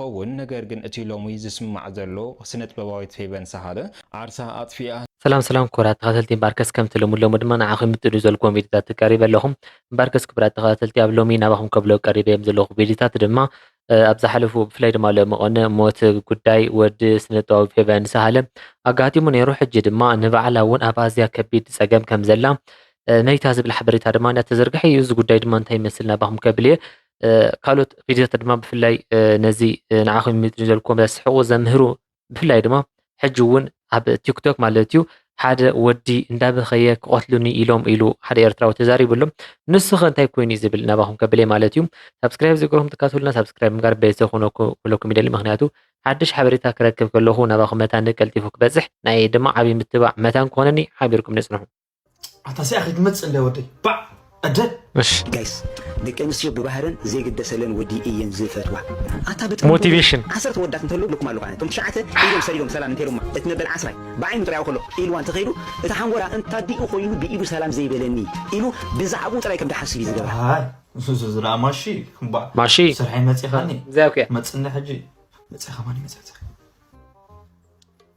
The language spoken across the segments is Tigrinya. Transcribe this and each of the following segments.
ትኸውን ነገር ግን እቲ ሎሚ ዝስማዕ ዘሎ ስነጥበባዊት ፌቨን ሳህለ ዓርሳ ኣጥፊኣ ሰላም ሰላም ክቡራት ተኸታተልቲ እምበኣርከስ ከምቲ ልሙድ ሎሚ ድማ ንዓኹም ይምጥኑ ዘልኩዎም ቪድዮታት ተቀሪበ ኣለኹ እምበኣርከስ ክቡራት ተኸታተልቲ ኣብ ሎሚ ናባኹም ከብሎ ቀሪበዮም ዘለኹ ቪድዮታት ድማ ኣብ ዝሓለፉ ብፍላይ ድማ ሎሚ ቀነ ሞት ጉዳይ ወዲ ስነጥበባዊ ፌቨን ሳሃለ ኣጋጢሙ ነይሩ ሕጂ ድማ ንበዓላ እውን ኣብ ኣዝያ ከቢድ ፀገም ከም ዘላ ነይታ ዝብል ሓበሬታ ድማ እንዳተዘርግሐ እዩ እዚ ጉዳይ ድማ እንታይ ይመስል ናባኹም ከብል እየ ካልኦት ቪድዮታት ድማ ብፍላይ ነዚ ንዓኹም ይምጥን ዘልኩ ስሕቁ ዘምህሩ ብፍላይ ድማ ሕጂ እውን ኣብ ቲክቶክ ማለት እዩ ሓደ ወዲ እንዳበኸየ ክቐትሉኒ ኢሎም ኢሉ ሓደ ኤርትራዊ ተዛሪቡ ኣሎ ንሱ ኸ እንታይ ኮይኑ እዩ ዝብል ናባኹም ከብለይ ማለት እዩ ሳብስክራይብ ዝገርኩም ትካትሉና ሳብስክራይብ ምጋር ቤተሰብ ክነኩ ክለኩም ይደሊ ምክንያቱ ሓድሽ ሓበሬታ ክረክብ ከለኹ ናባኹም መታን ቀልጢፉ ክበፅሕ ናይ ድማ ዓብዪ ምትባዕ መታን ክኾነኒ ሓቢርኩም ንፅንሑ ኣታ ሲኣ ክትመፅእ እንዳ ወደይ ባዕ እደ ጋይስ ደቂ ኣንስትዮ ብባህረን ዘይግደሰለን ወዲ እየን ዝፈትዋ ኣታ ብጥም ሞቲቬሽን ዓሰርተ ወዳት እንተልው ልኩም ኣለኹ ኣነ እቶም ትሽዓተ ኢዶም ሰሪዶም ሰላም እንተይሎማ እቲ መበል ዓስራይ ብዓይኑ ጥራይ ከሎ ኢልዋ እንተኸይዱ እቲ ሓንጎላ እንታዲኡ ኮይኑ ብኢዱ ሰላም ዘይበለኒ ኢሉ ብዛዕባኡ ጥራይ ከም ድሓስብ እዩ ዝገብራ ዝዝራ ማሺ እምባ ማሺ ስርሐይ መፂኻኒ መፅኒ ሕጂ መፂኻ ማን ይመፅዕ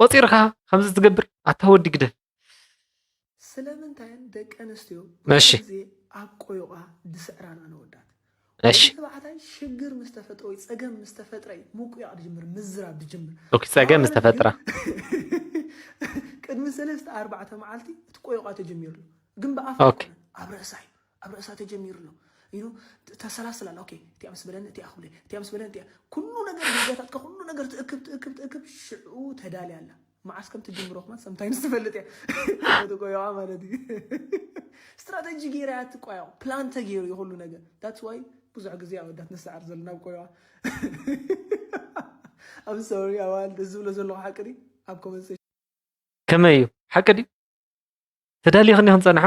ቆፂርካ ከምዚ ትገብር ኣታ ወዲ ግደፍ። ስለምንታየን ደቂ ኣንስትዮ እሺ። ኩሉ ግዜ ኣብ ቆዮቛ ዝስዕራ ንኣን ኣወዳት? እሺ። ወዲ ተባዕታይ ሽግር ምስ ተፈጥሮ ወይ ጸገም ምስ ተፈጥረ እዩ ምቁያቕ ዝጅምር፣ ምዝራብ ዝጅምር። ኦኬ፣ ጸገም ምስ ኣዋልድ ተፈጥረ። ግን ቅድሚ ሰለስተ ኣርባዕተ መዓልቲ እቲ ቆዮቛ ተጀሚሩ ኣሎ። ግን ብኣፍ ኦኬ። ኣይኮነን፣ ኣብ ርእሳ እዩ። ኣብ ርእሳ ተጀሚሩ ኣሎ ኢሉ ተሰላስል ኣሎ። ኦኬ እቲኣ ምስ በለኒ እቲኣ ክብለ እቲኣ ምስ በለኒ እቲኣ ኩሉ ነገር ዜጋታትካ ኩሉ ነገር ትእክብ ትእክብ ትእክብ ሽዑ ተዳልያ ኣላ መዓስ ከም ትጅምሮ ክማ ሰምታይምስ ትፈልጥ እያ ትቆየዋ ማለት እዩ ስትራተጂ ገይራ እያ ትቆየዋ ፕላን ተገይሩ እዩ ኩሉ ነገር ዳትስ ዋይ ብዙሕ ግዜ ኣወዳት ንሰዓር ዘለና ኣብ ቆየዋ ኣብ ሰሪ ኣዋል እዚ ዝብሎ ዘለኹ ሓቂ ድዩ ኣብ ኮመንት ከመይ እዩ ሓቂ ድዩ ተዳሊኽኒ ክንፀንሓ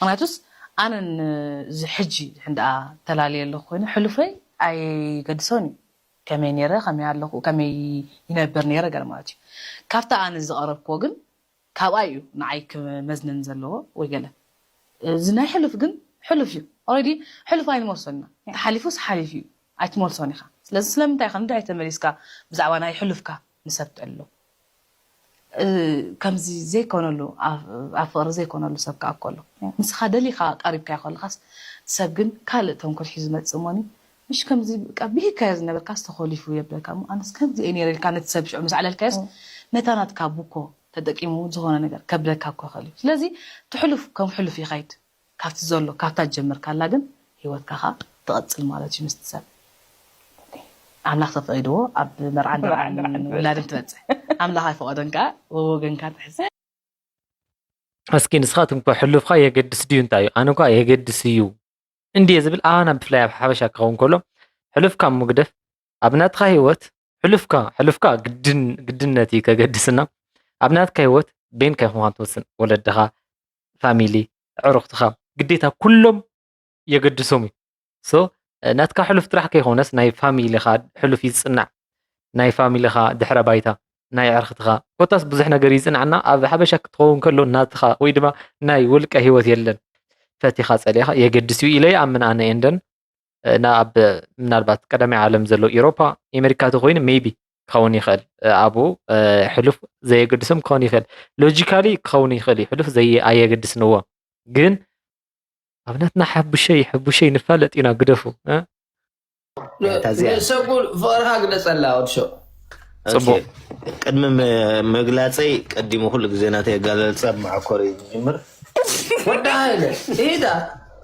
ምክንያቱስ ኣነ ን ሕጂ እንድኣ ተላልየ ኣለኩ ኮይነ ሕሉፈይ ኣይገድሶን እዩ ከመይ ነይረ ከመይ ኣለኩ ከመይ ይነብር ነይረ ገለ ማለት እዩ ካብታ ኣነ ዝቀረብክዎ ግን ካብኣ እዩ ንዓይ ክመዝነኒ ዘለዎ ወይ ገለ እዚ ናይ ሕሉፍ ግን ሕሉፍ እዩ ኦረዲ ሕሉፍ ኣይንመልሶን ኢና እንተ ሓሊፉስ ሓሊፉ እዩ ኣይትመልሶን ኢካ ስለዚ ስለምንታይ ኢካ ንድሕሪት ተመሊስካ ብዛዕባ ናይ ሕሉፍካ ንሰብተሉ ከምዚ ዘይኮነሉ ኣብ ፍቅሪ ዘይኮነሉ ሰብ ከኣ እኮ ኣሎ ንስካ ደሊካ ቀሪብካዮ ከለካስ እቲ ሰብ ግን ካልእ ተንኮል ሒዙ ዝመጽእ እሞኒ ምሽ ከምዚ በቃ ብሂግካዮ ዝነበርካስ ተኮሊፉ የብለካ እሞ ኣነስ ከምዚ እየ ነይረ ኢልካ ነቲ ሰብ ሽዑ ምስ ኣዕለልካዮስ ነታ ናትካ ቡኮ ተጠቂሙ ዝኮነ ነገር ከብለካ እኮ ይክእል እዩ ስለዚ እቲ ሕሉፍ ከም ሕሉፍ ይከይድ ካብቲ ዘሎ ካብታ ዝጀመርካላ ግን ሂወትካ ከኣ ትቅጽል ማለት እዩ ምስቲ ሰብ ኣምላክ ተፈቂድዎ ኣብ መርዓን ደርዓን ውላድን ትበጽሕ ኣምላክ ኣይፈቀዶን ከኣ ወወገንካ ትሕዝ። እስኪ ንስኻትኩም ከ ሕሉፍካ የገድስ ድዩ እንታይ እዩ ኣነ ኳ የገድስ እዩ እንድየ ዝብል ኣባና ብፍላይ ኣብ ሓበሻ ክኸውን ከሎ ሕሉፍካ ምጉደፍ ኣብ ናትካ ሂወት ሕሉፍካ ሕሉፍካ ግድን ግድነት እዩ ከገድስና ኣብ ናትካ ሂወት ቤንካ ይኹንካ ትወስን ወለድኻ ፋሚሊ ኣዕሩኽትኻ ግዴታ ኩሎም የገድሶም እዩ ሶ ናትካ ሕሉፍ ጥራሕ ከይኮነስ ናይ ፋሚሊኻ ሕሉፍ ይዝፅናዕ ናይ ፋሚሊኻ ድሕረ ባይታ ናይ ኣዕርኽትኻ ኮታስ ብዙሕ ነገር ይፅናዕና ኣብ ሓበሻ ክትኸውን ከሎ ናትኻ ወይ ድማ ናይ ውልቀ ሂወት የለን ፈቲኻ ፀሊእኻ የገድስ እዩ ኢለ ይኣምን ኣነ ኤንደን እና ኣብ ምናልባት ቀዳማይ ዓለም ዘሎ ኢሮፓ ኤሜሪካ ተኮይኑ ሜቢ ክኸውን ይኽእል ኣብኡ ሕሉፍ ዘየገድሶም ክኸውን ይኽእል ሎጂካሊ ክኸውን ይኽእል እዩ ሕሉፍ ኣየገድስንዎ ግን ኣብ ናትና ሓቡሸይ ሕቡሸይ ንፋለጥ ኢና ግደፉ ሰጉል ፍቕርካ ግለፀላ ወድሾ ፅቡቅ ቅድሚ ምግላፀይ ቀዲሙ ኩሉ ግዜ ናተይ ኣጋለልፃ ብመዓኮር እዩ ዝጅምር ወዳ ሃይለ ኢዳ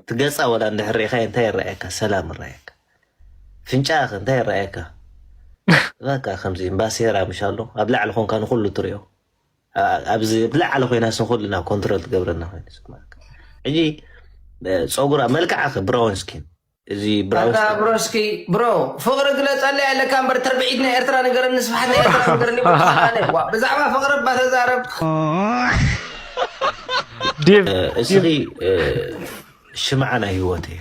እቲ ገጻ ወላ እንድሕር ርኢኻዮ እንታይ ይረኣየካ? ሰላም ይረኣየካ? ፍንጫ ከ እንታይ ይረኣየካ? እባካ ከምዚ እምባሴራ ምሽ ኣሎ ኣብ ላዕሊ ኮንካ ንኩሉ ትሪኦ ኣብዚ ብላዕሊ ኮይና ንኩልና ኮንትሮል ትገብረና ኮይኑ ስማካ ሕጂ ፀጉራ መልክዓ ከ ብራውን ስኪን እዚ ብራውስኪ ብሮ ፍቅሪ ግለፀለይ ኣለካ እምበር ትርብዒት ናይ ኤርትራ ነገርን ንስፍሓት ናይ ኤርትራ ነገርን ብዛዕባ ፍቅሪ እባ ተዛረብ እስኺ ሽምዓ ናይ ህይወት እየ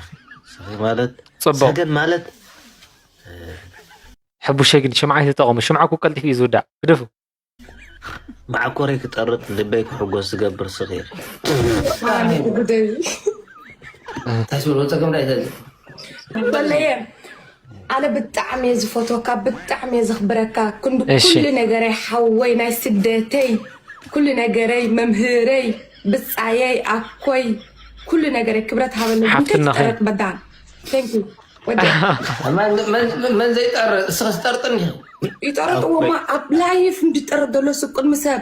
ማለት ሰገን ማለት ሕቡሸ ግን ሽምዓ ይተጠቐሙ ሽምዓ ኩ ቀልጢፉ እዩ ዝውዳእ ግደፉ ማዕኮረይ ክጠርጥ ልበይ ክሕጎስ ዝገብር ስኺ ጉደይ ኣነ ብጣዕሚ እየ ዝፈትወካ ብጣዕሚ እየ ዘኽብረካ ክንዲ እሺ። ኩሉ ነገረይ ሓወይ ናይ ስደተይ ኩሉ ነገረይ መምህረይ ብፃየይ ኣኮይ ኩሉ ነገረይ ክብረት ሃበለይ ግን ሓፍትና ኸይ? ከይትጠረጥ በዳን ቴንክ ዩ ወዲ መን- መን- መን ዘይጠር እስኸ ዝጠርጥን እዩ ይጠረጥዎማ ኣብ ላይፍ እንድጠረጥ ዘሎ ስብ ቅድሚ ሰብ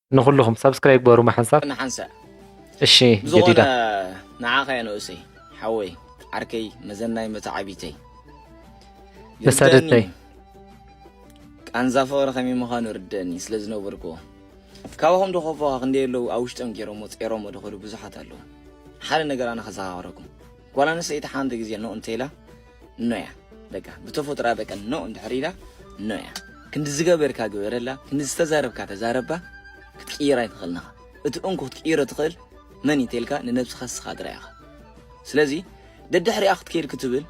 ንኩልኩም ሳብስክራይብ ግበሩ ማሓንሳብ ንሓንሳእ እሺ ጀዲዳ ብዝኾነ ንዓኻ እየ ንኡሰይ ሓወይ ዓርከይ መዘናይ መተዓቢተይ መሳደተይ ቃንዛ ፍቕሪ ከመይ ምዃኑ ርደኒ ስለ ዝነበርኩዎ ካባኹም ዶኸፎኻ ክንደይ ኣለዉ ኣብ ውሽጦም ገይሮሞ ፀይሮሞ ድኸዱ ብዙሓት ኣለዉ ሓደ ነገር ኣነ ከዘኻኽረኩም ጓል ኣንስተይቲ ሓንቲ ግዜ ኖ እንተኢላ ኖያ በቃ ብተፈጥራ በቃ ኖ እንድሕር ኢላ ኖያ ክንዲ ዝገበርካ ግበረላ ክንዲ ዝተዛረብካ ተዛረባ ክትቅይራ ኣይትኽእልን ኢኻ እቲ እንኩ ክትቅይሮ ትኽእል መን እዩ ተልካ ንነብስኻ ስኻ ጥራይ ኢኻ ስለዚ ደድሕሪኣ ክትከይድ ክትብል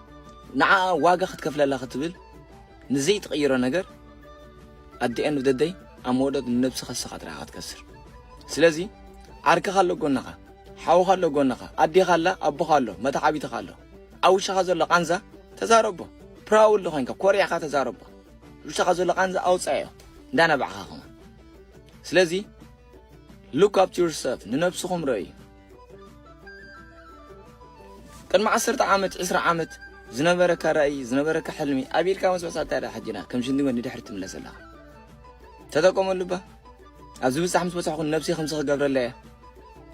ንዓኣ ዋጋ ክትከፍለላ ክትብል ንዘይትቕይሮ ነገር ኣዲኤን ደደይ ኣብ መወደት ንነብስኻ ስኻ ጥራይ ኢኻ ትከስር ስለዚ ዓርክኻ ኣሎ ጎንኻ ሓውኻ ኣሎ ጎንኻ ኣዴኻ ኣላ ኣቦኻ ኣሎ መታዓቢትኻ ኣሎ ኣብ ውሽኻ ዘሎ ቃንዛ ተዛረቦ ፕራውድ ኮይንካ ኮሪዕካ ተዛረቦ ውሽኻ ዘሎ ቃንዛ ኣውፃዮ እንዳነባዕኻ ከማ ስለዚ ሉክ ኣፕ ዩርሰልፍ ንነብስኹም ረእዩ ቅድሚ ዓሰርተ ዓመት ዕስራ ዓመት ዝነበረካ ራእይ ዝነበረካ ሕልሚ ኣቢልካ መስበሳ እንታይ ሕጂና ከም ሽንዲ ንድሕሪ ትምለስ ኣለኻ ተጠቀመሉ ባ ኣብ ዝብጻሕ ምስ በጻሕኩ ንነብሰይ ከምዚ ክገብረላ እየ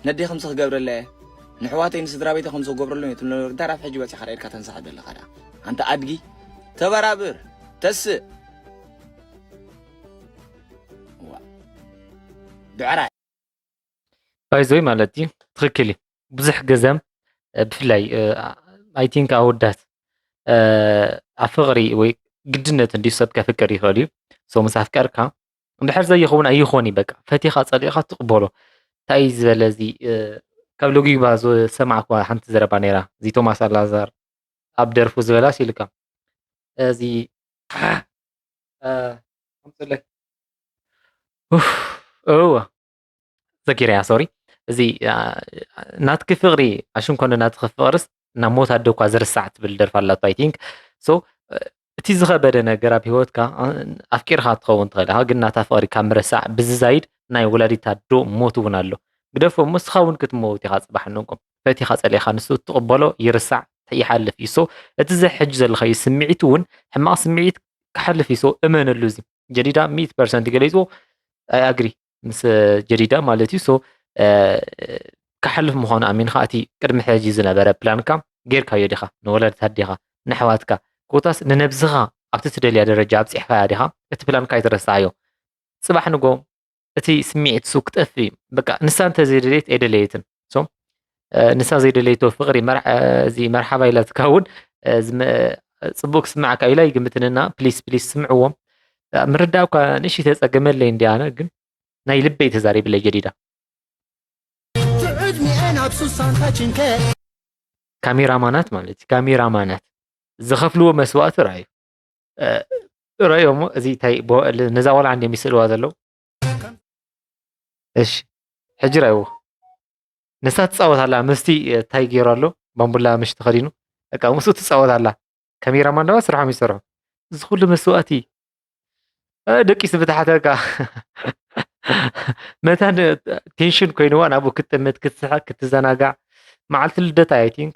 ነደይ ከምዚ ክገብረላ እየ ንሕዋተይ ንስድራቤተይ ከምዚ ክገብረሎም እየ ትብሎ ነበር ዳራብ ሕጂ በጺሕካ ዳኢድካ ተንሳሕ ዘለካ ደኣ ኣንታ ኣድጊ ተበራብር ተስእ ብዕራይ ባይዘይ ማለት እዩ ትክክል እዩ ብዙሕ ግዘ ብፍላይ ኣይ ቲንክ ኣወዳት ኣብ ፍቅሪ ወይ ግድነት እንዲ ሰብ ከፍቅር ይኽእል እዩ ሶ ምስ ኣፍቀርካ እንድሕር ዘይኸውን ኣይኾን እዩ በቃ ፈቲኻ ጸሊእኻ ትቕበሎ እንታይ እዩ ዝበለ እዚ ካብ ሎጊባ ዝሰማዕኳ ሓንቲ ዘረባ ነይራ እዚ ቶማስ ኣላዛር ኣብ ደርፉ ዝበላስ ኢልካ እዚ እወ ዘኪረያ ሶሪ እዚ ናትኪ ፍቅሪ ኣሽን ኮነ ናትኪ ፍቅርስ ናብ ሞት ኣደ እኳ ዝርሳዕ ትብል ደርፊ ኣላቶ ኣይ ቲንክ ሶ እቲ ዝኸበደ ነገር ኣብ ሂወትካ ኣፍቂርካ ትኸውን ትኽእል ኢኻ ግን ናታ ፍቅሪ ካብ ምርሳዕ ብዝዛይድ ናይ ወላዲት ኣዶ ሞት እውን ኣሎ ግደፎ እሞ ንስኻ እውን ክትመውት ኢኻ ፅባሕ ንጎ ፈቲኻ ፀሊእኻ ንሱ እትቕበሎ ይርሳዕ ይሓልፍ እዩ ሶ እቲ ዘ ሕጂ ዘለኻዩ ስምዒት እውን ሕማቕ ስምዒት ክሓልፍ እዩ ሶ እመነሉ እዚ ጀዲዳ ሚእቲ ፐርሰንት ገሊፅዎ ኣይ ኣግሪ ምስ ጀዲዳ ማለት እዩ ሶ ክሓልፍ ምዃኑ ኣሚንካ እቲ ቅድሚ ሕጂ ዝነበረ ፕላንካ ጌርካዮ ዲኻ ንወላድታ ዲኻ ንኣሕዋትካ ኮታስ ንነብስኻ ኣብቲ ትደልያ ደረጃ ኣብፂሕኻያ ዲኻ እቲ ፕላንካ ኣይትረስዓዮ ፅባሕ ንጎ እቲ ስምዒት ሱ ክጠፍእ እዩ በቃ ንሳ እንተዘይደለየት ኣይደለየትን ሶ ንሳ ዘይደለይቶ ፍቅሪ እዚ መርሓባ ኢላትካ እውን ፅቡቅ ክስምዓካ ኢላ ይግምትንና ፕሊስ ፕሊስ ስምዕዎም ምርዳእ እኳ ንእሽ ተፀገመለይ እንዲ ኣነ ግን ናይ ልበይ ተዛሪብለይ ጀዲዳ ካሜራማናት ማለት እዩ ካሜራማናት ዝኸፍልዎ መስዋእቲ ርኣዩ ርኣዮ እሞ እዚ ታይ ነዛ ቆልዓ እንዲም ይስእልዋ ዘለዉ እሺ ሕጂ ራይዎ ንሳ ትፃወት ኣላ ምስቲ ታይ ገይሩ ኣሎ ባምቡላ ምሽ ተኸዲኑ በቃ ምስኡ ትፃወት ኣላ ካሜራማን ድማ ስርሖም ይሰርሑ እዚ ኩሉ መስዋእቲ ደቂስ ብታሕተካ መታ ቴንሽን ኮይንዋ ናብኡ ክትጥምት ክትስሕቅ ክትዘናጋዕ መዓልቲ ልደታ ኣይ ቲንክ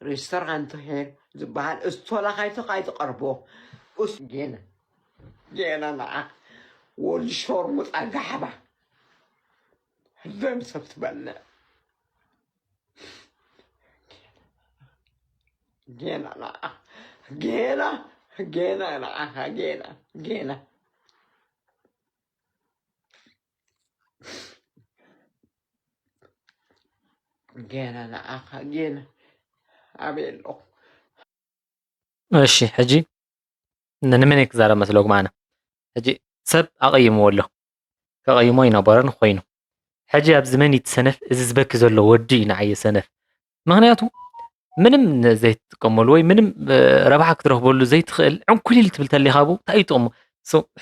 ሬስቶራንት ሄር ዝበሃል እስቶላ ካይቶ ካይትቀርቦ ኡስ ጌና ጌና ንዓ ወዲ ሾርሙጣ ጋሕባ ደም ሰብ ትበልዕ ጌና ንዓ ጌና ጌና ንዓኻ ጌና ጌና ጌና ንዓኻ ጌና ኣበይ ኣለኹ እሺ ሕጂ ንመን ክዛረብ መስለኩም ኣነ ሕጂ ሰብ ኣቐይምዎ ኣሎ ከቐይሞ ኣይነበሮን ኮይኑ ሕጂ ኣብዚ መን እዩ እቲ ሰነፍ እዚ ዝበኪ ዘሎ ወዲ እዩ ንዓይ ሰነፍ ምክንያቱ ምንም ዘይትጥቀመሉ ወይ ምንም ረብሓ ክትረክበሉ ዘይትኽእል ዕንኩሊል ትብል ተሊኻ ብ እንታይ እዩ ጥቕሙ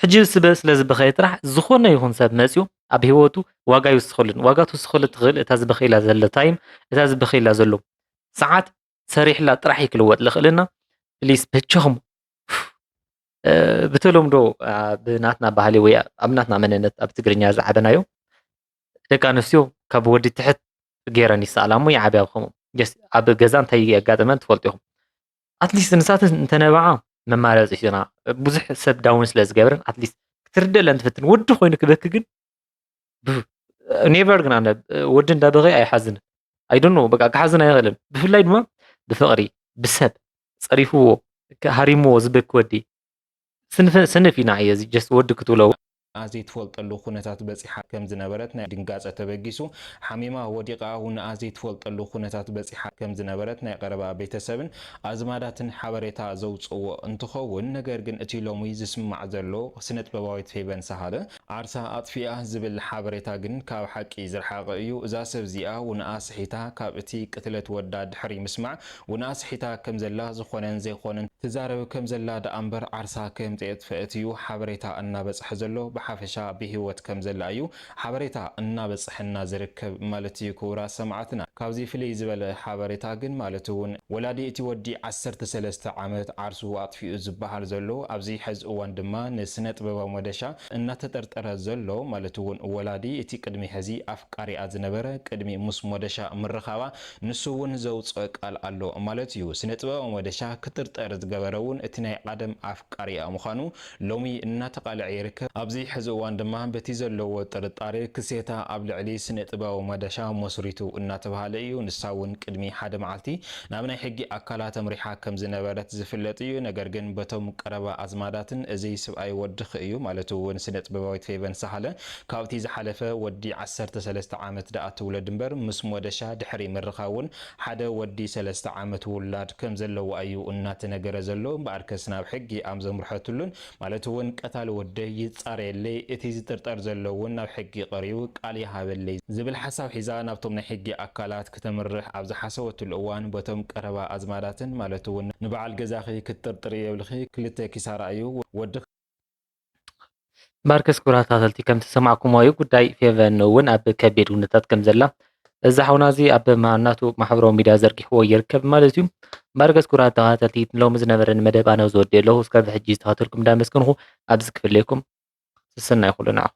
ሕጂ ስበ ስለ ዝበኸየ ጥራሕ ዝኾነ ይኹን ሰብ መፅኡ ኣብ ሂወቱ ዋጋ ይውስኸሉን ዋጋ ትውስኸሉ ትኽእል እታ ዝበኸየላ ዘሎ ታይም እታ ዝበኸየላ ዘሎ ሰዓት ሰሪሕላ ጥራሕ እዩ ክልወጥ ዝኽእልና ፕሊስ በጃኹም ብተለምዶ ብናትና ባህሊ ወይ ኣብ ናትና መንነት ኣብ ትግርኛ ዝዓበናዮ ደቂ ኣንስትዮ ካብ ወዲ ትሕት ገይረን ይሰኣላ እሞ ይዓብያ ብከምኡ ኣብ ገዛ እንታይ የጋጥመን ትፈልጡ ኢኹም ኣትሊስት ንሳተን እንተነበዓ መማረፂ ሒዞና ብዙሕ ሰብ ዳውን ስለ ዝገብረን ኣትሊስት ክትርደለን ትፍትን ወዲ ኮይኑ ክበኪ ግን ኔቨር ግን ኣነ ወዲ እንዳበኸ ኣይሓዝን ኣይዶኖ በቃ ክሓዝን ኣይኽእልን ብፍላይ ድማ ብፍቕሪ ብሰብ ፀሪፍዎ ሃሪምዎ ዝበኪ ወዲ ስንፍ ኢና እየ ጀስት ወዲ ክትብሎ ኣብ ዘይትፈልጠሉ ኩነታት በጺሓ ከም ዝነበረት ናይ ድንጋጸ ተበጊሱ ሓሚማ ወዲቓ እውን ኣብ ዘይትፈልጠሉ ኩነታት በጺሓ ከም ዝነበረት ናይ ቐረባ ቤተሰብን ኣዝማዳትን ሓበሬታ ዘውጽእዎ እንትኸውን ነገር ግን እቲ ሎሚ ዝስማዕ ዘሎ ስነጥበባዊት ፌቨን ሳህለ ዓርሳ ኣጥፊኣ ዝብል ሓበሬታ ግን ካብ ሓቂ ዝርሓቐ እዩ። እዛ ሰብ እዚኣ ውንኣ ስሒታ ካብ እቲ ቅትለት ወዳ ድሕሪ ምስማዕ ውንኣ ስሒታ ከም ዘላ ዝኾነን ዘይኾነን ትዛረብ ከም ዘላ ደኣ እምበር ዓርሳ ከም ዘየጥፈእት እዩ ሓበሬታ እናበጽሐ ዘሎ ብሓፈሻ ብሂወት ከም ዘላ እዩ ሓበሬታ እናበጽሐና ዝርከብ ማለት እዩ ክቡራት ሰማዕትና ካብዚ ፍልይ ዝበለ ሓበሬታ ግን ማለት እውን ወላዲ እቲ ወዲ ዓሰርተ ሰለስተ ዓመት ዓርሱ ኣጥፊኡ ዝበሃል ዘሎ፣ ኣብዚ ሐዚ እዋን ድማ ንስነጥበባዊ መደሻ እናተጠርጠረ ዘሎ ማለት እውን ወላዲ እቲ ቅድሚ ሐዚ ኣፍቃሪኣ ዝነበረ ቅድሚ ምስ ሞደሻ ምርኻባ ንሱ እውን ዘውፅኦ ቃል ኣሎ ማለት እዩ። ስነጥበባዊ መደሻ ክጥርጠር ዝገበረ እውን እቲ ናይ ቐደም ኣፍቃሪኣ ምዃኑ ሎሚ እናተቓልዐ ይርከብ። ኣብዚ ሕዚ እዋን ድማ በቲ ዘለዎ ጥርጣረ ክሴታ ኣብ ልዕሊ ስነ-ጥበባዊ ማዳሻ መስሪቱ እናተብሃለ እዩ። ንሳ እውን ቅድሚ ሓደ መዓልቲ ናብ ናይ ሕጊ ኣካላት ኣምሪሓ ከም ዝነበረት ዝፍለጥ እዩ። ነገር ግን በቶም ቀረባ ኣዝማዳትን እዚ ስብኣይ ወድኺ እዩ ማለት እውን ስነ-ጥበባዊት ፌቨን ሳህለ ካብቲ ዝሓለፈ ወዲ ዓሰርተ ሰለስተ ዓመት ደኣ ትውለድ እምበር ምስ ሞደሻ ድሕሪ ምርኻብ እውን ሓደ ወዲ ሰለስተ ዓመት ውላድ ከም ዘለዋ እዩ እናተነገረ ዘሎ እምበኣርከስ ናብ ሕጊ ኣም ዘምርሐትሉን ማለት እውን ቀታሊ ወደይ ይፃረየለይ እቲ ዝጥርጠር ዘሎ እውን ናብ ሕጊ ቀሪቡ ቃል ይሃበለይ ዝብል ሓሳብ ሒዛ ናብቶም ናይ ሕጊ ኣካላት ክተምርሕ ኣብ ዝሓሰበትሉ እዋን በቶም ቀረባ ኣዝማዳትን ማለት እውን ንበዓል ገዛኺ ክትጥርጥሪ የብልኺ ክልተ ኪሳራ እዩ ወድኺ ማርከስ ክብራት ተኸታተልቲ ከም ዝሰማዕኩምዎ እዩ ጉዳይ ፌቨን እውን ኣብ ከቢድ ኩነታት ከም ዘላ እዚ ሓውና እዚ ኣብ ናቱ ማሕበራዊ ሚድያ ዘርጊሕዎ ይርከብ ማለት እዩ። ማርከስ ክብራት ተኸታተልቲ ሎሚ ዝነበረኒ መደብ ኣነ ዝወድእ ኣለኹ እስካብ ሕጂ ዝተኸታተልኩም እንዳመስገንኹ ኣብዚ ክፍለየኩም ስስና ይኹሉ ንዓኹም።